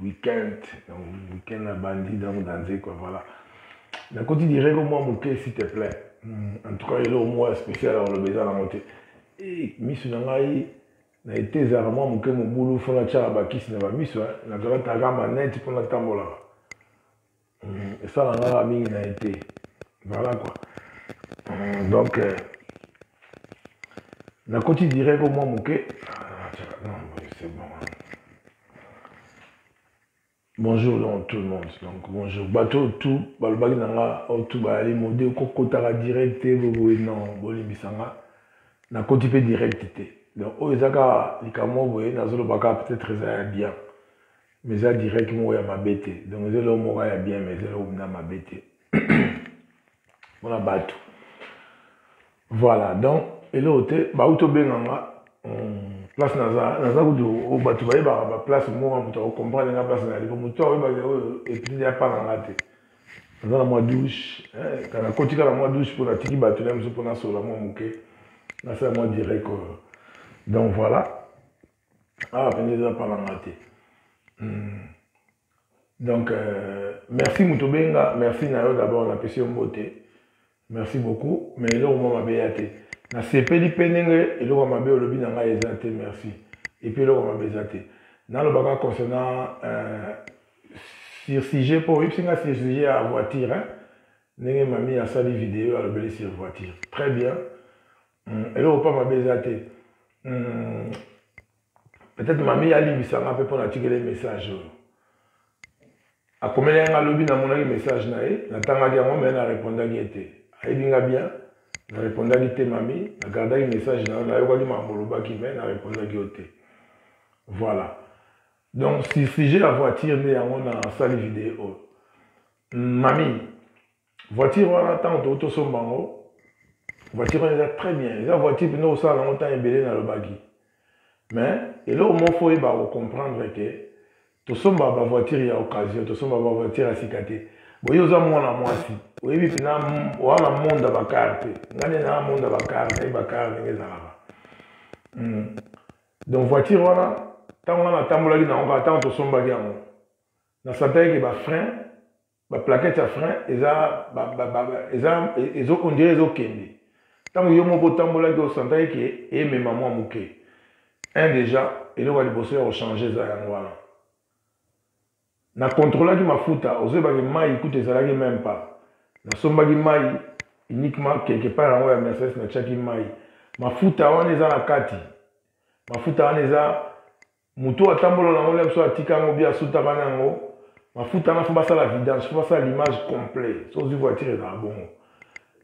Weekend, donc weekend na bandi donc na nzekwa voilà. Na koti direct moi moke s'il te plaît. Hmm, en tout cas eloko moko ya spécial akoloba eza nango te. Eh, misu na ngai na ete ezalaka mwa moke mobulu mpo natyaka bakisi na bamiso nazalaka taka maneti mpo natambolaka mm, esala ngaka mingi na ye te voilà quoi mm, donc euh, nakoti direct omwa moke ah, c'est bon bonjour donc tout le monde donc bonjour bato oyo tu balobaki na nga oyo tu bayali mode kokotaka direct te boboye non bolimbisa nga nakoti mpe direct te donc oyo eza kaka likambo boye nazoloba kaka peut-être eza ya bien Mais eza direct moko ya mabe te. Donc eza eloko moko ya bien mais eza eloko mpenza mabe te. Mpo na bato. Voilà donc eloko te bauti tobenga nga hmm, place naza naza kutu oh, bato bayebaka baplace moko moto akokomprendre nga place nayali po moto akoyebaki oyo oh, epitidi apanga nga te naza na mwa douche eh, kana kotika na mwa douche mpo natiki bato na biso mpo nasolola mwa moke nasala mwa direct oyo euh. donc voilà awa ah, mpenza eza palanga te hmm. donc euh, merci moto obenga merci na yo d'abord napesi yo mbote merci beaucoup mais eloko mwa mabe ya te nasepeli mpe ndenge eloko mabe olobi na ngai eza te merci epuis eloko mabe eza te nalobaka concernant euh, sur sujet mpo oyebisi ngai sur sujet ya voiture ndenge mami asali video alobeli sur voiture très bien hmm, eloko mpa mabe eza te hmm, peut-être mami alimbisa nga mpe mpo natikele message oyo akomelaki nga lobi namonaki message na ye natangaki yango mai narepondaki ye te ayebi nga bien narepondaki te mami nagardaki message na yo nayokaki mambo olobaki mai narepondaki yo te voilà donc si sujet ya voiture nde yango nasali video mami voiture wana ntango toki tosomba yango voiture wana eza très bien eza voiture mpena osala yango ntango ebele nalobaki mais eloko moko fo oyeba kocomprendre ke tosomba bavoiture ya occasion tosomba bavoiture ya sika te boye oza mwana mwasi oyebi mpena wana monda bakare te ngai nde naa monda bakare nayebi bakare ndenge ezalaka hmm. donc voiture wana ntango wana natambolaki na yango kaka ntango tosombaki yango nasantaki ke bafrein ba plaquette ya frein eza eza ezo on dirait ezo kende tango yo moko otambolaki osantaki ke emema mwa moke un déjà eloko ya liboso ya kochange eza yango wana na controlaki mafuta ozoyebaki mai kutu ezalaki meme pas nasombaki mai uniquement quelque part yango ya mercedes natiaki mai mafuta wana eza na kati mafuta wana eza moto atambola na yango biso atika yango bi asutaka na yango mafuta wana fo basala vidange fo basala l'image complet so ozwi voiture ezala bongo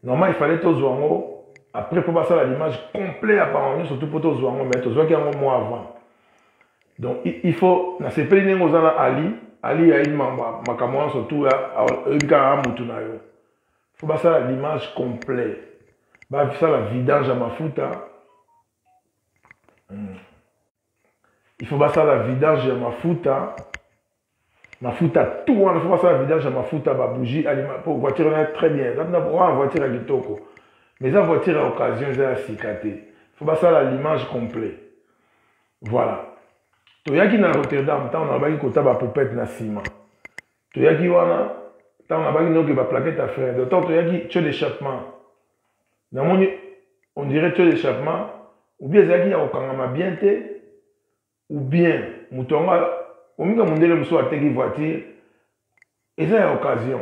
normal ifallait tozwa yango après mpo basala l'image complet ya bango nyonso tu mpo tozwa yango mai tozwaki yango mwa avant donc il faut nasepeli ndenge oza na ali ali yayi makambo nyonso tu oyebi kaka motu na yo fo basala l'image complet basala vidange ya mafuta mm. il faut basala vidange ya mafuta mafuta tout wana il faut basala vidange ya mafuta babougie alima mpo voiture na très bien eza mpena wana voiture ya kitoko mais eza voiture ya occasion eza ya sika te il faut basala l'image complet voilà toyaki na rotterdam ntango nalobaki kota bapopete na nsima toyaki wana ntango nabaki noki baplakete ya frein de temps toyaki tio d'échappement namoni on dirait taux d'échappement ou bien ezalaki ya kokangama bien te ou bien moto yango omika mondele mosusu ateki voiture eza ya occasion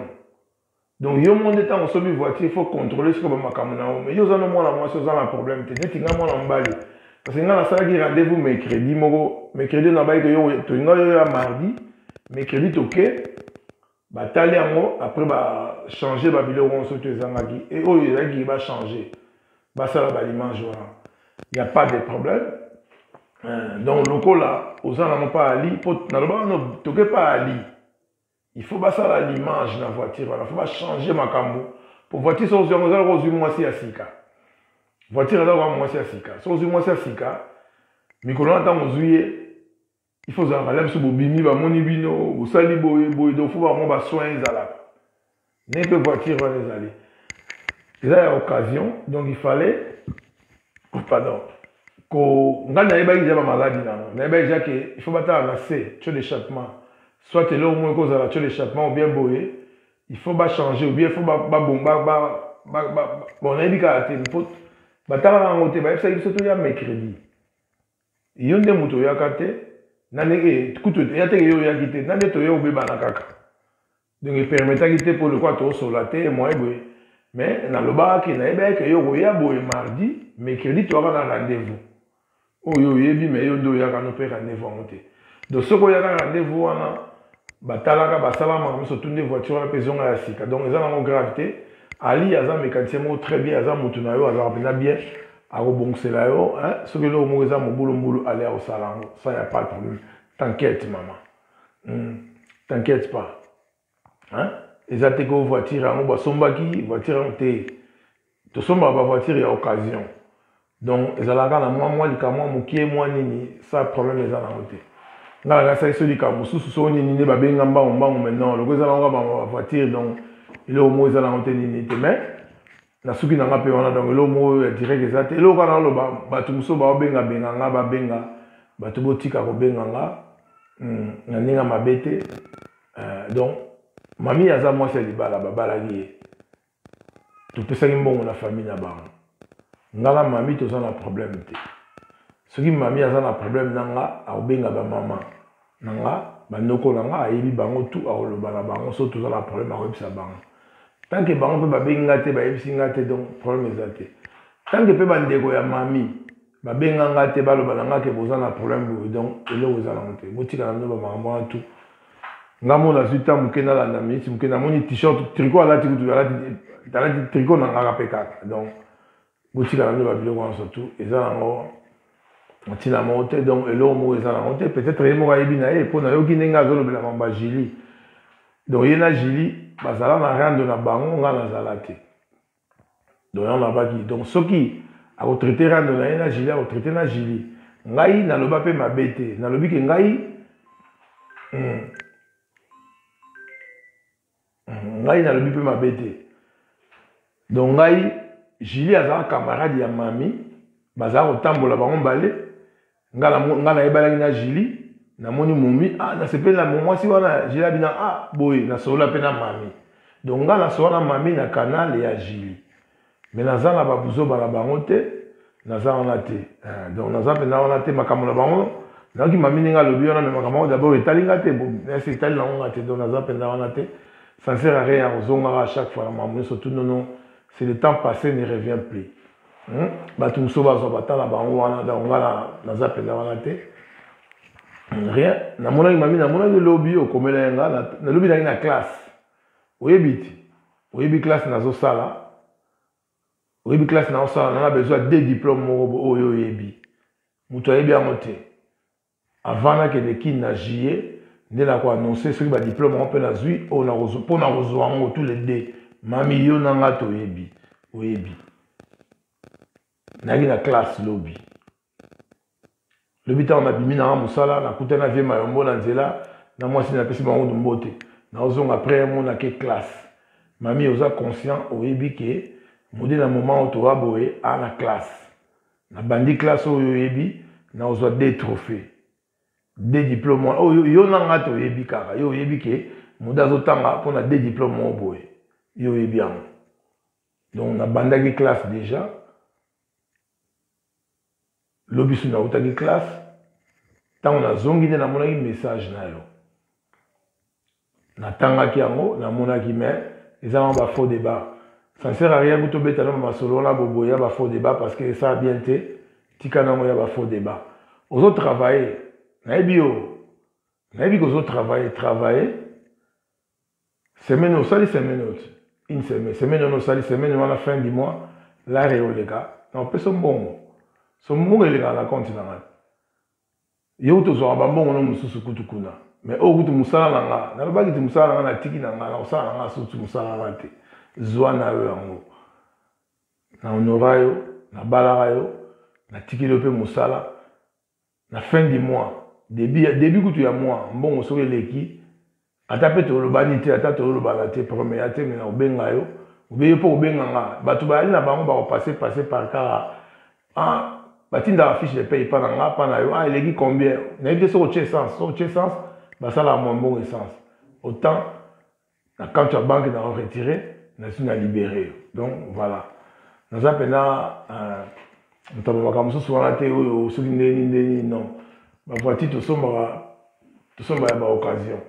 donc yo moko nde ntango osomi voiture il faut contrôler sikoyo bamakambo na yo mais yo oza no mwana mwasi oza na problème te neti ngai mwana mobali parce que ngai nasalaki rendez-vous mercredi moko mercredi nabayi tolinga yo ya mardi mercredi toke batali yango après ba changer ba biloko nyonso to ezangaki e oyo ezalaki ba changer basala ba image wana ya pas de problème euh, donc lokola oza nango pa ali po nalobaka no toke pa ali il faut basala l'image na voiture wana faut bachanger makambo po voiture soki ozwi yango eza loko ozwi mwasi ya sika voiture eza lokola mwasi ya sika soki ozwi mwasi ya sika mikolo na ntango ozwi ye il faut ozalaka la biso bobimi bamoni bino bosali boye boye donc fo bamwa basoin ezalaka ndenge mpe voiture wana ezali eza ya occasion donc il fallait pardon ko ngai nayebaki deja bamaladi na yango nayebaki deja ke il faut batala na se tio d'échappement soit eloko moko ekozala tio d'échappement ou bien boye il faut bachanger ou bien il faut babomba bon nayebi kaka te mpo batalaka yango te bayebisaki biso toya mercredi yo nde moto oyaka te nani e kutu ya teke yo oyaki te nani toye obebana kaka donc epermetaki te mpo lokola tosola te moye boye mais nalobaki nayebaki ke yo okoya boye mardi mercredi toyaka na rendez-vous oyo oyebi mais yo nde oyaka no mpe rendez-vous yango te donc soki oyaka rendez-vous wana batalaka basala makambo nyonso tunde voiture wana mpe ezonga ya sika donc eza nango grave te ali aza mécanicien moko très bien aza motu na yo azalaka mpenza bien akobongisela yo hein? soki eloko moko eza mobulumbulu ale akosala yango ça ya pas problème t'inquiète mama hmm. t'inquiète pas hein? eza te ko voiture yango basombaki voiture yango te tosombaka bavoiture ya occasion donc ezalaka na mwa mwa likamwa mokie mwa nini sa problème eza nango te nga nakasaki so likambo mosusu soko nini nde babenga mbango mbango maintenant loko eza nango bavoiture donc eloko moko eza nango te nini te mais na suki na nga pe wana donc eloko moko ya direct eza te eloko kaka naloba bato mosusu baobenga benga nga babenga bato botika kobenga nga hmm, na ndenge ya mabe te euh, donc mami aza mwasi ya libala babalaki ye topesaki mbongo na famille na bango nga na mami toza na problème te soki mami aza na problème na nga akobenga bamama na nga bandoko na nga ayebi bango tu akoloba na bango so toza na problème akoyebisa bango tant que bango mpe babengi nga te bayebisi nga te donc problème eza te tant que mpe bandeko ya mami babenga nga te baloba na nga ke boza na problème boye donc eloko eza nango te botika na bino bamakambo wana tu nga mo nazwi ta moke nalanda miniti moke namoni t-shirt tricot alati kutu alati tricot na ngaka mpe kaka donc botikala nde babiloko wana surtout eza nango ntina moko te donc eloko moko eza nango te peut-être ye moko ayebi na ye mpo nayoki ndenge azolobela mamba jili donc ye na jili bazala na rando na bango ngai nazala te donc yango nabaki donc soki akotraite rando na ye na jili akotraite na jili ngai naloba mpe mabe te nalobi ke ngai hmm, ngai nalobi mpe mabe te donc ngai julie azala camarade ya mami bazala kotambola bango mbale ngai nayebalaki na julie namoni momi ah, nasepeli na mwasi wana julie abina ah, boye nasolola mpe na mami donc ngai nasolola na mami na canal ya julie mais naza na ba buzoba na bango te naza wana te eh, donc naza mpenza wana te makambo na bango nayoki mami ndenge alobi wana me makambo yango dabord etali nga te esi etali nango nga te donc naza mpenza wana te sansere rien ya kozongaka à chaque fois na makambo nyonso tout nono c'est le temps passé ne revient plus hmm? bato mosusu bazwa bata na bango wana donc nga naza mpenza wana te rien namonaki mami namonaki lobi okomelaki nga nalobi nangi na classe oyebi ti oyebi classe nazosala oyebi classe naosala nana besoin ya de diplome moko oyo oyebi moto ayebi yango te avant nakende kini na juillet nde nakoannonce soki badiplome yango mpe nazwi mpo na kozwa yango tous les deux mami yo na ngai toyebi oyebi nayaki na classe lobi lobi ntango nabimi nanga mosala nakutani na vie mayombo na nzela na mwasi napesi bango mbote naozonga après un mois nake classe mami oza conscient oyebi ke mode na moment oyo toa boye a na classe nabandi classe oyo oyebi naozwa de trophée de diplôme wana oyo yo na ngai toyebi kaka yo oyebi ke mode azotanga mpona de diplôme moko boye yo oyebi yango donc nabandaki classe déjà lobi su nautaki classe ntango nazongi nde namonaki message na yo natangaki yango namonaki mais eza yango bafaux débat ça ne sert à rien kutu obeta nano masolo wana boboye ya bafaux débat parce que esala bien te tika nango ya bafaux débat ozo travaille nayebi yo nayebi kozo travaille travaille semaine osali semaine oti une semaine semaine wana osali semaine wana fin du mois lare oleka na opesa mbongo so mbongo elekaka na compte na ngai yo kutu ozwaka bambongo no mosusu kutu kuna mais oyo kutu mosala na nga nalobaki ti mosala na nga natiki na nga na kosala na nga susu mosala na nga te zwa na yo yango na honora yo nabalaka yo natikeli yo mpe mosala na fin du mois début ya début kutu ya mois mbongo soki eleki ata mpe tolobani te ata tolobana te problème ya te mina obenga yo obeye mpo obenga nga bato bayali na bango bakopase passe par kara ah, batindaka fiche de paye mpa na nga mpa na yo ah, eleki combien nayebi te soki otie essence soki otie essence basalaka mwa mbongo essence autant na compte ya banque na retire nasi na libere yo donc voilà naza mpena euh, moto ya makambo mosusu wana te oyo soki ndeni ndeni non bavoiture tosombaka tosomba ya baoccasion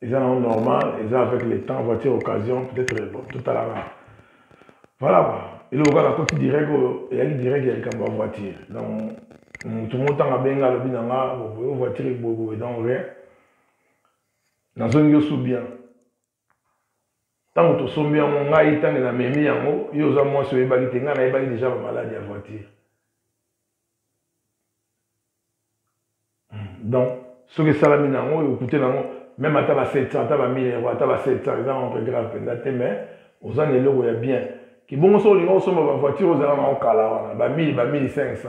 eza nango normal eza avec le temps voiture occasion peut-être bon totalaka voilà quoi eloko kaka nakoti direct oyo eyaki direct ya likambo ya voiture donc motu motanga benga alobi na nga voiture eboyeboye donc rien nazongi yo su bien ntango tosombi yango ngai ntango namemi yango yo oza mwasi oyebaki te ngai nayebaki deja bamaladi ya voiture hmm, donc soki esalami na yango okute na yango meme ata ba 700 ata ba 1000 euro ata ba 700 eza entre grave mpenza te mais oza na eloko ya bien kibongo soki olinga osomba bavoiture ozala na yango kala wana ba 1000 ba 1500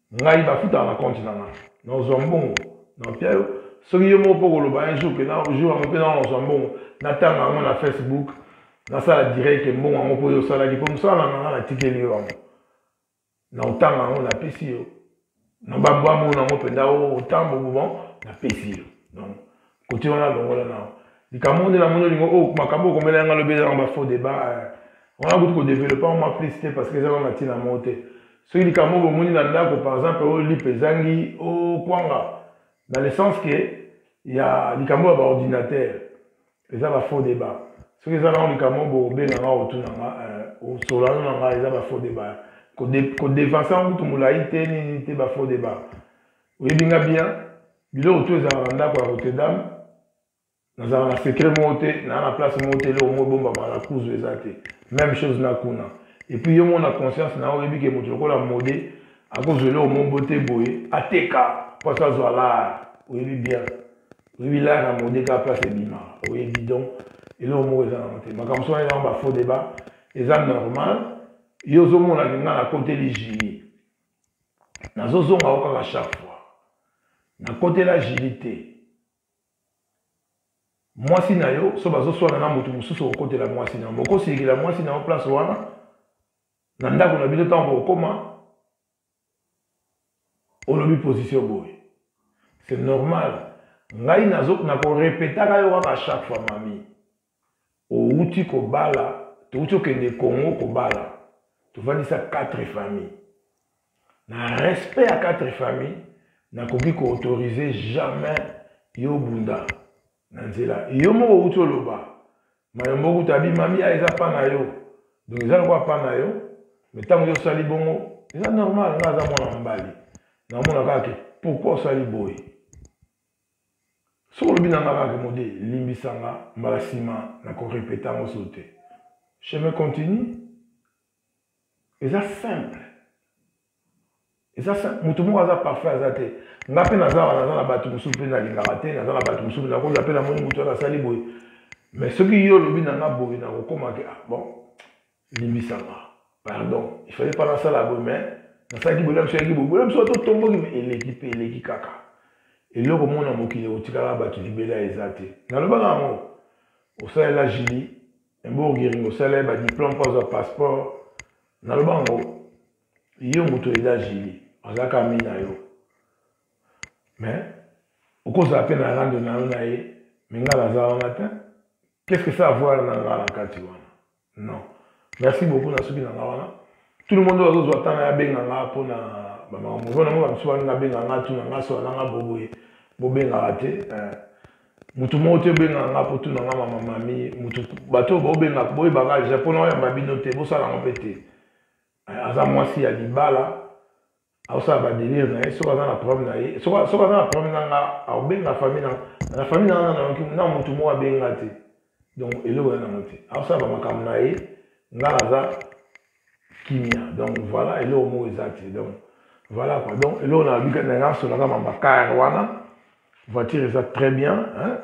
ngai bafutaka na compte na ngai nazwa mbongo na mpia yo soki yo moko mpo koloba un jour pena jour yango mpe nao nazwa mbongo natanga yango na facebook nasala direct mbongo yango mpo yo osalaki mpo mosala na nanga natikeli yo yango na otanga yango napesi yo na bambwambo nango mpenza otambo oh, oh, bon napesi yo donc kote wana longola nao likambo moko nde namoni olingo oyo oh, makambo okomela yanga lobi ezalaka bafaux débat eh. wana kutu kodeveloppe yango mwa plus te parce que ezalaka na ntina moko te soki likambo oyo bomoni na ndako par exemple oyo oh, lipe ezangi okwanga oh, na le sens ke ya likambo ya baordinateur eza bafaux débat soki eza nango likambo bobenganga otunanga eh, osolano na ngai eza bafaux débat kodevanse yango kutu molai te nini te bafaux débat oyebi nga bien biloko to ezalaka na ndako ya rotterdam nazalaka na secret moko te naa na place moko te eloko moko ebombama na kuzu eza te même chose na kuna epuis yo moko na conscience na oyebi ke moto lokola mode akozwa eloko moko bo te boye ateka mpo aso azwa lar oyebi bien oyebi lar na mode kaka place ebimaka oyebi donc eloko moko eza nango te makambo sona ezango bafaux débat eza normal yo ozomona ke ngai nakoteli jili nazozonga o kaka chaque fois nakotela jili te mwasi na yo so bazoswana na moto mosusu okokotela mwasi na yo bokosilikela mwasi na yo place wana na ndako na bino ntango bokokoma olobi position boye c'est normal ngai nakorepetaka yo kaka chaque fois mami owuti kobala towuti okende congo kobala tovandisa quatre famille na respect ya quatre famille nakoki koautorize jamais yo obunda na nzela yo moko owuti oloba mayo moko kuta abimami ya eza pa na yo donc eza lokola pa na yo me ntango yo osali bongo eza normal nga aza mwana mobali naomona kaka ke pourkui osali boye soki olobi na nga kaka mode limbisa nga mbala nsima na korepeta yango so te chemin continue eza simple eza moto moko aza parfait aza te nga mpe naza wana naza na bato mosusu mpe nalingaka te naza na bato mosusu nakola mpe namoni moto wana asali boye mais soki yo olobi na nga boye nakokoma ke ah, bon limbisama pardon il fallait pas nasala boye mais nasalaki boye na biso yaki boye boye na biso totomboki me eleki mpe eleki kaka eloko mona mokili otikala bato libela eza te nalobaka yango osalela jili emborgering osala ye badiplome mpo azwa passeport naloba yango yo moto eza jili azalaka ami na yo mais okozala mpe na rando na yo na ye me ngai naza wana te qu'est ce que ça avoir na ngai na kati wana non merci beaucoup na suki na nga wana tout le monde oyo azozwa ntango ya abenga nga mpo na bamakambo mpo nango bamisu balinga abenga nga tuna nga sola na nga boboye bobengaka te eh. motu moko te obengaka nga mpo tuna nga mama mami motu bato oyo baobengaka boyebaka deja mpo na oyamba bino te bosala yango mpe te eh, aza mwasi ya libala akosala badelire na ye soki aza na problème na ye soki aza na problème na nga akobenga famille na na famille na nga nayoki na motu moko abenga te donc eloko ya nango te akosala bamakambo na ye nga naza kimia donc voilà eloko moko eza te donc voilà quoi donc eloko na bika na nga solaka mambakar wana voiture eza très bien hein?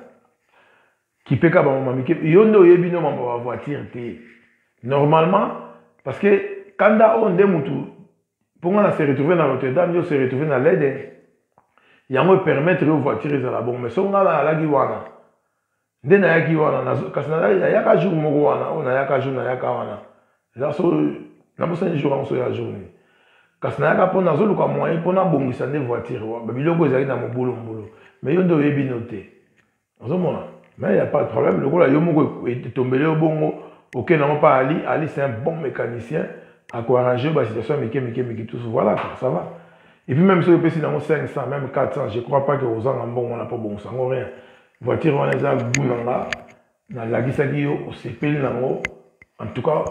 Kipeka bango mami kipeka. Yo nde oyebi no mambo ba voiture te. Normalement parce que kanda oyo nde mutu mpo nga na se retrouver na Notre Dame yo se retrouver na Leden. Yango e permettre yo voiture ezala bongo mais so nga na alaki wana nde nayaki wana kasi nayaka jour moko wana oyo nayaka jour nayaka wana eza so nabosani jour yango so ya jour nini kasi nayaka mpo nazoluka moyen mpo nabongisa nde voiture biloko ezali na mobulu mbulu mais yo nde oyebi no te ozomona mais ya pas de problème lokola yo moko etombele yo bongo okende yango mpa ali ali c'est un bon mécanicien akoarrange basituation ya mike mike mike tous voilà ça va et puis même soki opesi nango 500 même 400 je crois pas que ozanga mbongo wana mpo bongosa yango rien voiture wana eza gout na nga nalakisaki yo osepeli nango en tout cas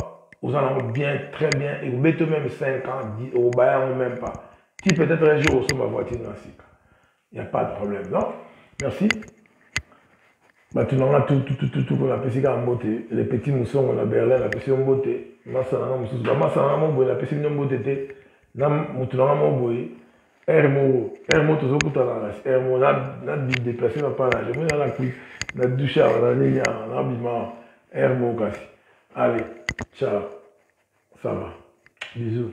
oza nango bien très bien ekobeti yo même 5 ans okobaya yango même pas ti peut-être un jour osomba voiture na sika Il n'y a pas de problème, non Merci. bato na nga tututututu mpo napesi kaka mbote le petit mosongo na berlin napesi yo mbote masa na nga mosusu bamasa na nga moko boye napesi bino mbote te na motu na nga moko boye aire moko aire moko tozokutana na aire moko na bideplace na mpa naje mpo nala kui na dushe awa na nini awa na bima aire moko kasi allez ciao ça va bisous